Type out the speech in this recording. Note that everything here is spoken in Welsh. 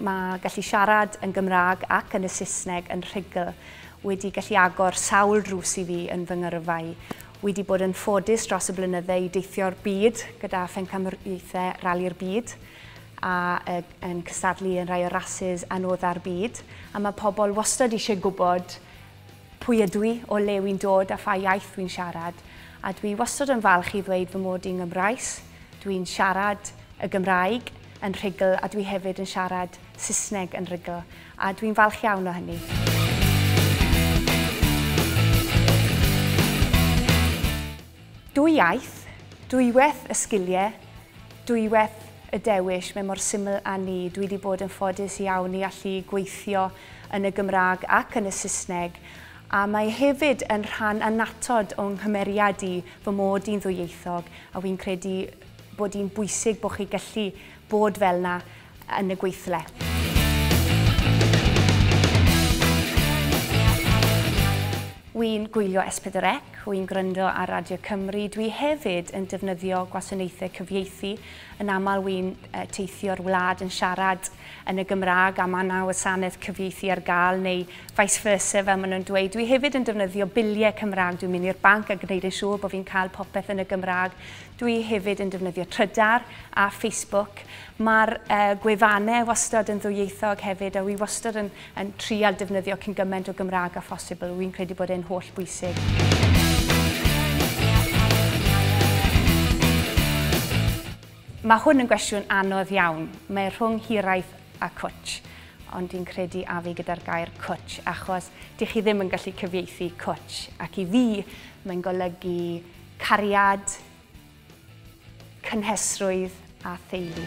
Mae gallu siarad yn Gymraeg ac yn y Saesneg yn rhugl wedi gallu agor sawl drws i fi yn fy ngyrfa i. Wedi bod yn ffodus dros y blynydde i deithio'r byd gyda phencamwriaethau Rali'r Byd a yn cystadlu yn rhai o rasys anodda'r byd a mae pobl wastad eisiau gwybod Pwy ydw i, o le wy'n dod a pha iaith wy'n siarad, a dwi wastod yn falch i ddweud fy mod i'n Gymraes, dwi'n siarad y Gymraeg yn rhugl a dwi hefyd yn siarad Saesneg yn rhugl, a dwi'n falch iawn o hynny. Dwy iaith, dwywaith y sgiliau, Dwywaith y dewis, mae mor syml a 'ny. Dwi 'di bod yn ffodus iawn i allu gweithio yn y Gymraeg ac yn y Saesneg, a mae hefyd yn rhan annatod o'n nghymeriad i fy mod i'n ddwyieithog, a wi'n credu bod hi'n bwysig bod chi gallu bod fel 'na, yn y gweithle. Wi'n gwylio S4C, wi'n gwrando ar Radio Cymru, dwi hefyd yn defnyddio gwasanaethau cyfieithu. Yn aml wi'n teithio'r wlad yn siarad yn y Gymraeg a mae yna wasanaeth cyfieithu ar gael neu vice versa fel maen nhw'n dweud. Dwi hefyd yn defnyddio biliau Cymraeg, dwi'n mynd i'r banc a gwneud yn siŵr bod fi'n cael popeth yn y Gymraeg. Dwi hefyd yn defnyddio trydar a Facebook Mae'r gwefannau wastad yn ddwyieithog hefyd a wi wastad yn, yn trial defnyddio cyn gymaint o Gymraeg a phosibl. Wi'n credu bod e'n holl bwysig. Mae hwn yn gwestiwn anodd iawn. Mae rhwng hiraeth a cwtch. Ond dwi'n credu a fi gyda'r gair cwtch, achos dych chi ddim yn gallu cyfieithu cwtch. Ac i fi, mae'n golygu cariad, cynhesrwydd a theulu.